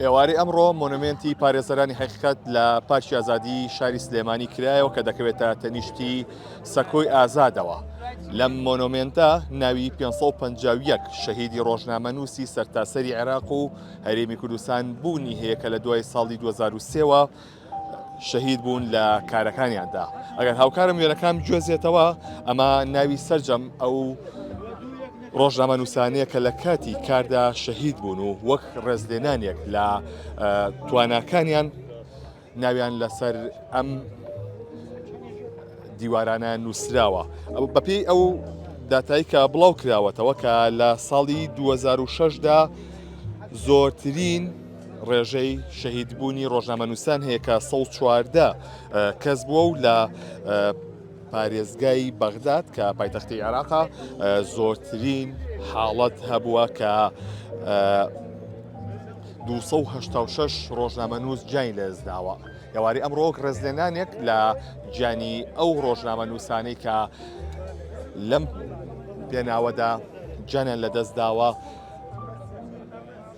ئێوارەی ئەمڕۆ مۆنۆمێنتی پارێزەرانی حەقیقەت لە پارکی ئازادی شاری سلێمانی کرایەوە کە دەکەوێتە تەنیشتی سەکۆی ئازادەوە لەم مۆنۆمێنتە ناوی 551 شەهیدی ڕۆژنامە نووسی سەرتاسەری عێراق و هەرێمی کوردستان بوونی هەیە کە لە دوای ساڵی 2023ەوە شەهید بوون لە کارەکانیاندا ئەگەر هاوکارم وێنەکان گوێزێتەوە ئەمە ناوی سرجەم ئەو ڕۆژنامە نووسانەیە کە لە کاتی کاردا شەهید بوون و وەک ڕێزلێنانێک لە تواناکانیان ناویان لەسەر ئەم دیوارانە نووسراوە بەپی ئەو داتایی کە بڵاو کراوەتەوە کە لە ساڵی 2006دا زۆرترین ڕێژەی شەهیدبوونی ڕۆژنامەنووسان هەیە کە 114 کەس بووە و لە پارێزگای بەغداد کە پایتەختی عێراقا زۆرترین حاڵەت هەبووە کە 286 ڕۆژنامەنووس جای لەزداوە یاواری ئەمڕۆک ڕێزلێنانێک لە گیانی ئەو ڕۆژنامە نووسانەی کە لەم پێناوەدا جانیان لەدەستداوە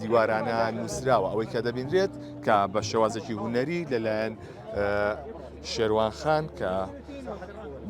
دیوارانە نووسراوە ئەوەی کە دەبینرێت کە بە شێوازێکی هوەری لەلایەن شێوان خان کە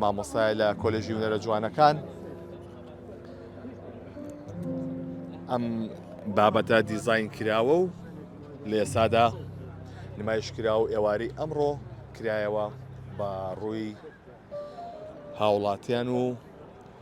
مامۆستای لە کۆلژی هوەرە جوانەکان ئەم بابەتە دیزین کراوە و لە ئێسادا نمایش کرا و ئێواری ئەمڕۆ کرایەوە بە ڕووی هاوڵاتیان و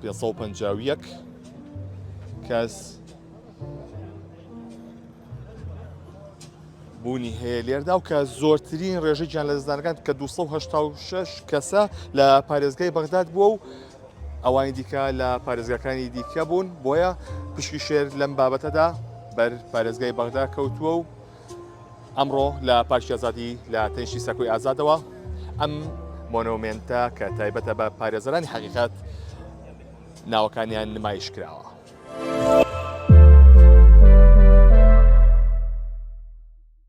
پێ سەد و پەنجا و یەک کەس بوونی هەیە لێردا و کە زۆرترین ڕێژەی گیان لە دەستدانەکان کە 286 کەسە لە پارێزگای بەغداد بووە و ئەوانی دیکە لە پارێزگاکانی دیکە بوون بۆیە پشکی شێر لەم بابەتەدا بەر پارێزگای بەغدا کەوتووە و ئەمڕۆ لە پارکی ئازادی لە تەنیشتی سەکۆی ئازادەوە ئەم مۆنۆمێنتە کە تایبەتە بە پارێزەرانی حەقیقەت ناوەکانیان نمایش کراوە.